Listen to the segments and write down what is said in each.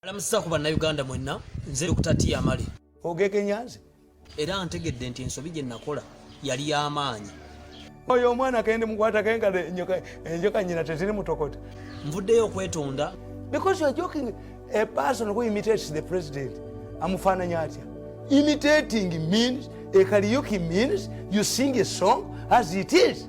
alamusiza ku bannayuganda mwenna nze okutatiya amale ogekenyanze era ntegedde nti ensobi gye nakola yali y'amaanyi oyo omwana kendi mukwata kengalo enjoka nyina tetiri mutokota nvuddeyo okwetonda because you're joking a person who imitates the president amufaananya atya imitating means ekaliyuki means you sing a song as it is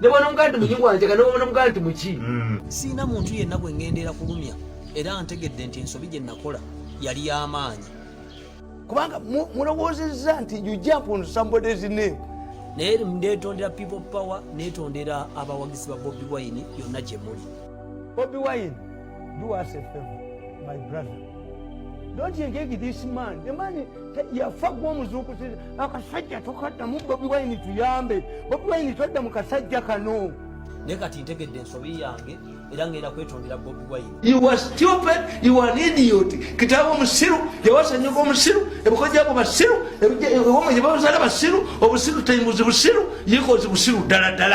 nebwanomugaa nti muki wanjaga nebwanomugaa nti muki mm. siina muntu yenna gwe ngendeera kulumya era ntegedde nti ensobi gye nakola yali y'amaanyi kubanga mulowoozezza nti you jump on somebody's name naye netondera people power netondera abawagizi ba bobi wine yonna gye muli bobi wine do us a favor my brother don't engage this man the man yafa gwa omuzuukusi akasajja tokaddamu bobi wine tuyambe bobi wine todda mu kasajja kano naye kati ntegedde ensobi yange era ngenda kwetondera bobi wine you are stupid you are an idiot kitaawo omusiru yawasanyuka omusiru ebiko gyabo basiru ewoma gyebabazala basiru obusiru tayimuzi busiru yikozi busiru ddala ddala